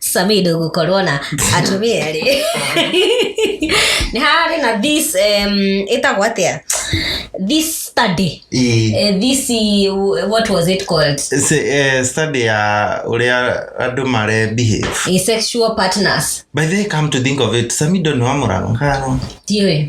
sami ndũgũkorwo na atumia rĩ nĩ hararĩ na this um, ĩtagwo atĩa this study Ii. Eh, this eh, what was it called Se- eh, study ya ũrĩa andũ mare behave Eh, sexual partners by the way come to think of it samido nĩ wa mũrangano tiũĩ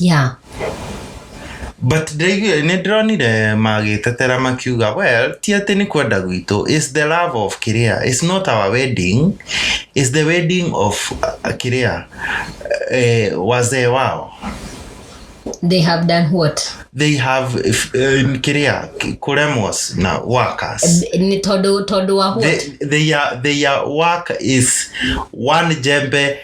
yeah. but ndĩraigua- nĩ ndĩronire magĩtetera makiuga well ti atĩ nĩ kwenda gwitũ is the love of kiria is not our wedding is the wedding of uh, kiria eh, wazee wao they have done what they have uh, kiria kuremos na workers ni tondå tondå wa what they, they are, their work is one jembe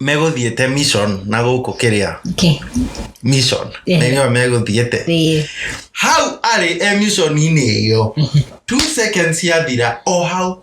megũthiĩte mission na gũkũ kĩrĩa Okay. mission Eh. na nĩo megũthiĩte Ĩĩ. hau arĩ e missioninĩ ĩyo two seconds yathira o hau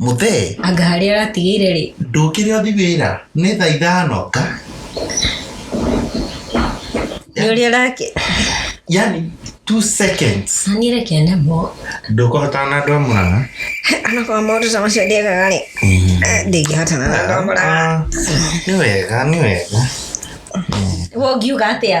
mũthee anga harĩa aratigĩire rĩ ndũkĩrĩ othi wĩra nĩ thaa ithano ka nĩ ũrĩa arake yani two seconds nĩreke namo ndũkũhotana na andũ a mũrang'a anakorwo maũndũ ta macio ndĩekaga rĩ ndĩngĩhotana na andũ a Murang'a. Ah, nĩ wega nĩ wega we ũngiuga atĩa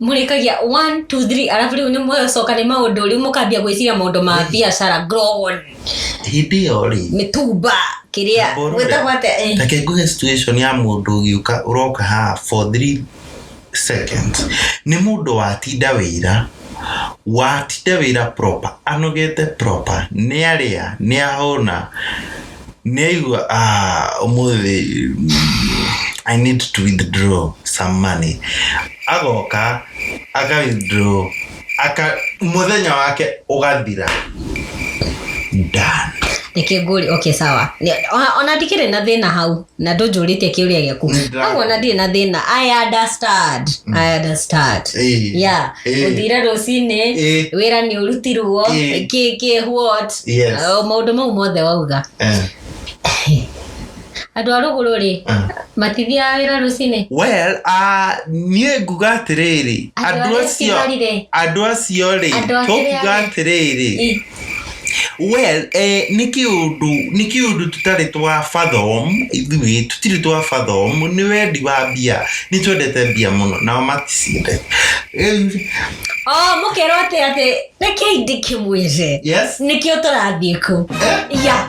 mũrĩkagia one two three arabu rĩu nĩ mũcoka nĩ maũndũ rĩu mũkambia gwĩciria maũndũ ma biacara grown hĩndĩ ĩyo rĩ mĩtumba kĩrĩa Mũrũre. gwĩtagwo atĩa eh. reke nguhe situation ya mũndũ ũgĩũka ũroka haha for three seconds nĩ mũndũ watinda wĩra watinda wĩra proper anogete proper nĩ arĩa nĩ ahũna nĩ aigua "Ah, ũmũthĩ mm, i need to withdraw some money agoka aka withdraw aka mũthenya wake ũgathira done nĩkĩ ngũri okay sawa Nĩ- ona- ona ndikĩrĩ na thĩna hau na ndũnjũrĩtie kĩũria gĩaku Nĩndĩra- agwo na ndirĩ na thĩna i understand i understand Eh. yeah Eh. ũthire rũcinĩ Eh. wĩra nĩ ũrutirwo Eh. kĩ kĩ what Yes. Oh, maũndũ mau mothe wauga Eh. andå a rå gå rå rä Ah. matithiaga wä ra rå cinä well ah, niä nguga atä rä rä Andũ andå arĩa acio cigarire. andå acio rä Andũ a kĩrĩa tokuga rĩ. atä rä rä Well, nĩ kĩũndũ nĩ kĩũndũ tũtarĩ twa fathom ithuĩ tũtirĩ twa fathom nĩ wendi wa mbia. Nĩ twendete mbia mũno nao maticiendete. Rĩu Oh, mũkerwo atĩ atĩ rekei ndĩkĩmwĩre. Yes. Nĩkĩo tũrathiĩ kũu. Yeah.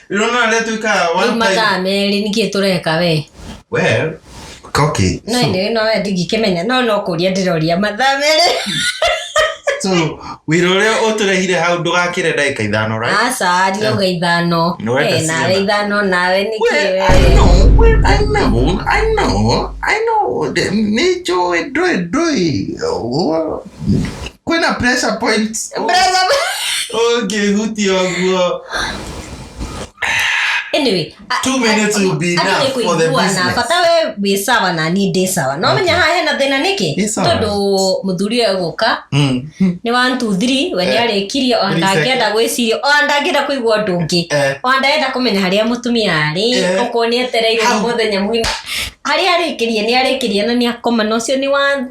Rĩrona rĩrĩa tũikara rĩu one time. mathaa merĩ nĩkĩ tũreka we Well, okay. no nĩ no we ndingĩkĩmenya no no kũria ndĩroria mathaa merĩ So, wĩra ũrĩa ũtũrehire hau ndũgakĩre ndagĩka ithano, right? aca ndioga ithano Nĩ wenda Eh, nawe ciana. ithano nawe nĩkĩ Well, I we know, well, I know, I know, I know. Nĩ njũĩ, ndũĩ, ndũĩ. Ũguo, kwĩna pressure point Brother, ũngĩhutia ũguo anyway a- Two minutes will be hata enough ni for the kuiguana, business. bata we wĩ sawa na niĩ ndĩ sawa no menya haha hena thĩna Ĩ nĩkĩ sawa. tondũ mũthuri ũyũ gũka Mm. nĩ one two three we nĩ Eh. arĩkirie o Three ndangĩenda gwĩciria o ndangĩenda kũigua ũndũ ũngĩ Eh. o ndangĩenda kũmenya harĩa mũtumia arĩ Eh. okorwo nĩ etereire Hau. mũthenya mwina harĩa arĩkirie nĩ arĩkirie na nĩ akoma na ũcio nĩ one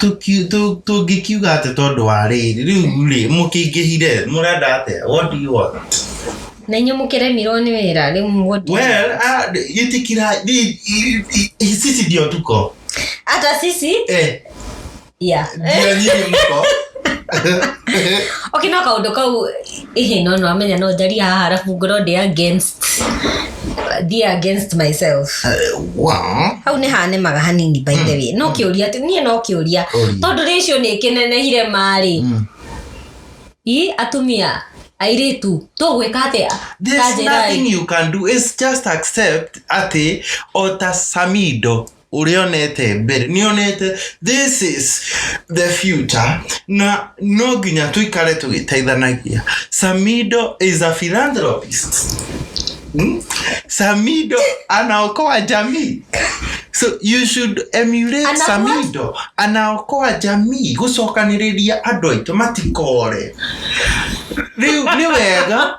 Tũki- tũ- tũngĩkiuga atĩ tondũ wa rĩrĩ rĩu rĩ mũkĩingĩhire mũrenda atĩa what do you want na inyuĩ mũkĩremirwo nĩ wĩra rĩu mũgũthiĩ well ah, itikira i- i- i- i- sisi ndio tuko hata sisi eh yeah. ndio nyinyi mko okay no kaundu kau Ĩhĩ no no amenya no njaria haha arabu ngorwo ndĩ against thiĩ against myself Wow. hau nĩ hanemaga hanini by the way no kĩũria tu niĩ no kĩũria Ũria. tondũ rĩcio nĩ kĩnenehire marĩ i atumia airĩtu tũgwĩka atĩa There's Tanjĩrai. nothing you can do. It's just accept atĩ o ta Samido ũrĩa onete mbere nĩ onete this is the future na no nginya tũikare tũgĩteithanagia samido is a philanthropist Hmm? samido anaokoa jamii so you should emulate Ana what? samido anaokoa jamii gũcokanĩrĩria andũ aitũ matikore rĩu nĩ wega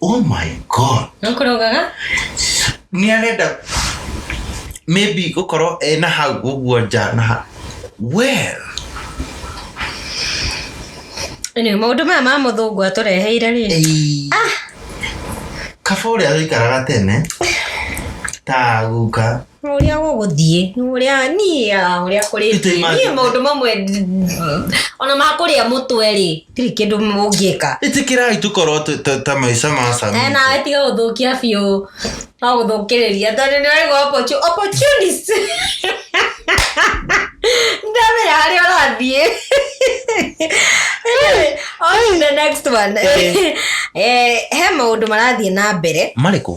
oh my god no kũrogaga nĩ arenda maybe gũkorwo ena hau ũguo nja na ha- well Anyway, maũndũ maya ma mũthũngũ atũreheire rĩ Ei. kaba ũrĩa ũikaraga tene ta guka ũrĩa gũgũthiĩ ũrĩa niĩ ũrĩa kũrĩthiĩ niĩ maũndũ mamwe ona makũrĩa mũtwe rĩ tirĩ kĩndũ mũngĩka ĩtĩkĩrai tũkorwo ta maica ma sami eh, nawe tiga gũthũkia biũ no gũthũkĩrĩria tondũ nĩ waigua opportunist ndamĩra harĩa ũrathiĩ on the next one eh. Eh, he maũndũ marathiĩ na mbere marĩkũ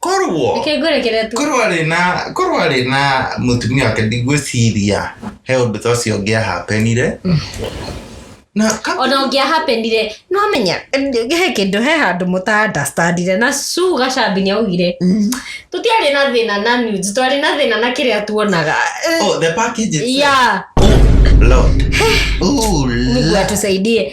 korwo Reke ngũrekere tu. korwo arĩ na korwo arĩ na mũtumia wake ndigwĩciria he ũndũ ta ũcio ũngĩahapenire na ka- ona ũngĩahapenire no menya he kĩndũ he handũ mũtandastandire na su gacambi nĩ augire tũtiarĩ na thĩna na nudes twarĩ na thĩna na kĩrĩa tuonaga oh, the package itself. ya oh, lord oh, mungu lord. atusaidie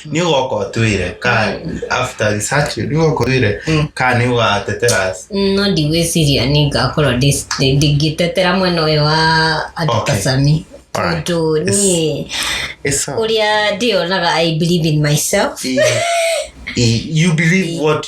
nä å goka å twä re ka after research nä å goka å twä re Mm. ka nä å gatetera no ndigwĩciria nĩ ngakorwo ndĩ- ndĩ- ndingĩtetera mwena ũyũ wa andũ Okay. kasami Alright. tondũ niĩ It's all- ũrĩa ndĩyonaga i believe in myself you believe what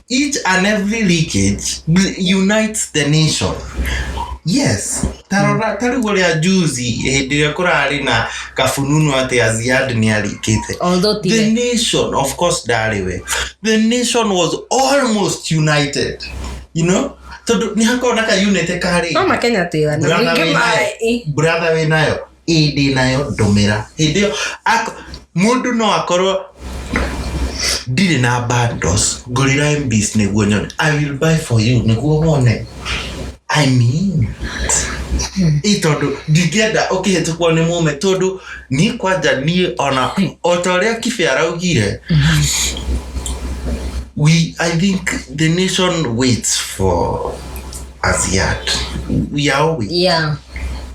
each and every leakage bl- unites the nation yes tarora ta rĩu ũrĩa juzi hĩndĩ ĩrĩa kũrarĩ na kabununu atĩ aziad nĩ arikĩte although ti the we. nation of course ndarĩ we the nation was almost united you know tondũ nĩ hakona ka unity karĩ no makenya twĩga na Brother ningĩ wĩ ma- nayo. ĩ, brother wĩ nayo ĩĩ ndĩ nayo ndũmĩra hĩndĩ ĩyo ak- mũndũ no akorwo ndirĩ na bundles ngũrĩra mbs nĩguo nyone i will buy for you nĩguo wone i mean ĩ tondũ ndingĩenda ũkĩhĩtũkwo nĩ mũme tondũ niĩ kwanja niĩ ona o ta ũrĩa kibe araugire we i think the nation waits for asiat we are always yeah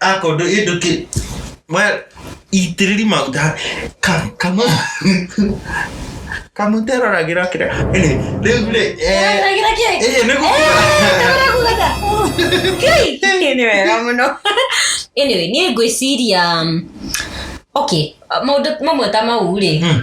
akondo ĩndũ kĩ we- itĩrĩri maguta ka- kamũ kamũ teroragĩra kĩrĩa Anyway, rĩu rĩ eh, Ndagĩra kĩĩ? ĩĩ nĩ gũkũra Ndagĩra gũgata. Kĩĩ? Kĩĩ nĩ wega mũno. Anyway, niĩ ngwĩciria um, okay, maũndũ mamwe ta mau rĩ Mm.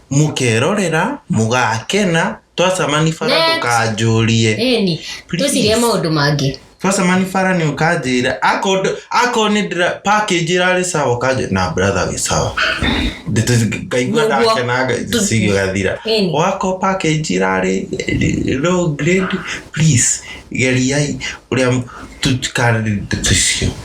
mũkerorera mũgakena twacamani bara Next. ndũkanjũrie ĩni Please. tũcirie maũndũ mangĩ twacamani bara nĩ ũkanjĩra akorwo nĩ ndĩra package ĩrarĩ sawa ũkanjĩra na brother wĩ sawa Ndĩtũ- ngaigua Nĩguo. ndakena Tũ- cigathira Ĩni. wakorwo package ĩrarĩ eh, low grade please geriai ũrĩa tũtikarĩte tũcio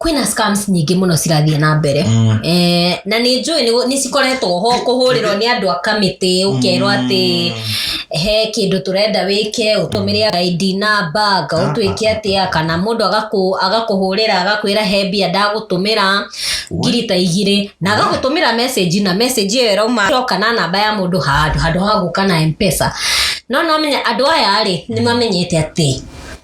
kwĩna scams nyingĩ mũno cirathiĩ na mbere Mm. eh, na nĩ njũĩ nĩ- nĩ cikoretwo ho kũhũrĩrwo nĩ andũ a kamĩtĩ ũkerwo atĩ he kĩndũ tũrenda wĩke ũtũmĩre ID namba ngaũtwĩke atĩa kana mũndũ agakũ- agakũhũrĩra agakwĩra he mbia ndagũtũmĩra ngiri ta igirĩ na agagũtũmĩra message na message ĩyo ĩrauma ĩroka na namba ya mũndũ handũ handũ ha gũka na mpesa no no menya andũ aya rĩ nĩ mamenyete atĩ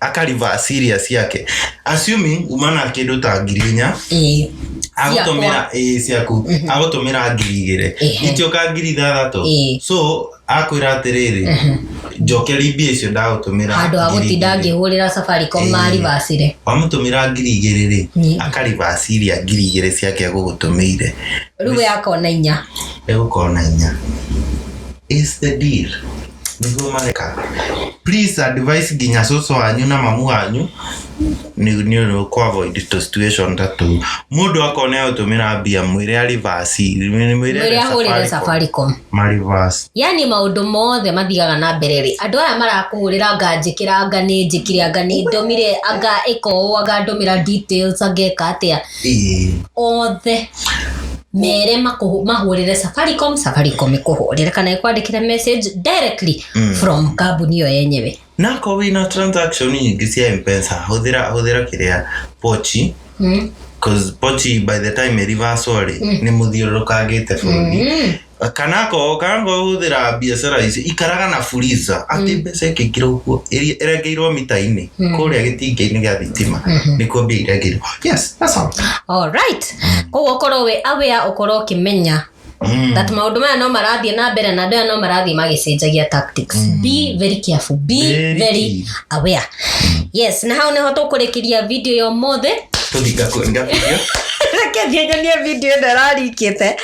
akarivaa serious yake assuming umana kĩndũ ta ngiri inya Ĩĩ. agũtũmĩra ĩĩ ciaku Mhm. agũtũmĩra ngiri igĩrĩ Ehe. itioka ngiri ithathatũ Ĩĩ. so akwĩra atĩrĩrĩ njokeri mbia icio ndagũtũmĩra handå ha gå ngiri tinda igĩrĩ. ngä hå rä ra safaricom Ĩĩ. marivacire wamũtũmĩra ngiri igĩrĩ rĩ Nĩ. akarivasiria ngiri igĩrä ciake agũgũtũmĩire rä u we akona inya egũkorwo na inya Is the deal nĩguo mareka please advice nginya cũcũ wanyu na mamu wanyu nĩ nĩ nĩ kũ avoid to situation ta tũu mũndũ akone gũtũmĩra mbia mwĩre a reverse mwĩre mwĩre arĩ ahũrĩre safaricom ma reverse yani maũndũ mothe mathiaga na mbere rĩ andũ aya marakũhũrĩra anga njĩkĩra anga nĩ njĩkire anga nĩ ndũmire anga ĩka ũũ anga ndũmĩra details anga ĩka atĩa Ĩĩ. othe mere makũhũ- mahũrĩre safaricom safaricom ĩkũhũrĩre kana ĩkwandĩkĩre message directly Mm. from kambuni ĩyo yenyewe nako wĩna transaction nyingĩ cia mpesa hũthĩra hũthĩra kĩrĩa pochi Mm. cause pochi by the time ĩrivasorĩ nĩ mũthiũrũrũkangĩte bũrũri Mm. kana ko kana ko hũthĩra biacara ici ikaraga na fuliza atĩ Mm. mbeca ĩkĩingĩra ũguo ĩrĩa ĩrengeirwo mita-inĩ Mm. kũrĩa gĩtingĩ-inĩ gĩa thitima Mhm. nĩkuo mbia irengirwo yes that's all alright koguo ũkorwo wĩ aware ũkorwo ũkĩmenya Mm. that maũndũ maya no marathiĩ na mbere na andũ aya no marathiĩ magĩcenjagia tactics be very careful be Very very aware yes na hau niho tũkũrĩkĩria video ya ũmũthĩ tũthi ngakua ngabithio reke thiĩ nyonie video ĩno ĩrarikĩte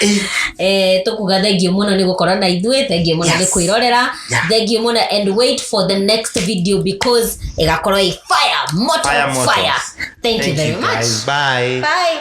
Eh, tũkuga thengiũ mũno nĩ gũkorwo na ithuĩ thengiũ mũno nĩ Yes. kwĩrorera Yeah. thengiũ mũno and wait for the next video because ĩgakorwo ĩ fire moto Fire moto. fire thank you very much guys. bye bye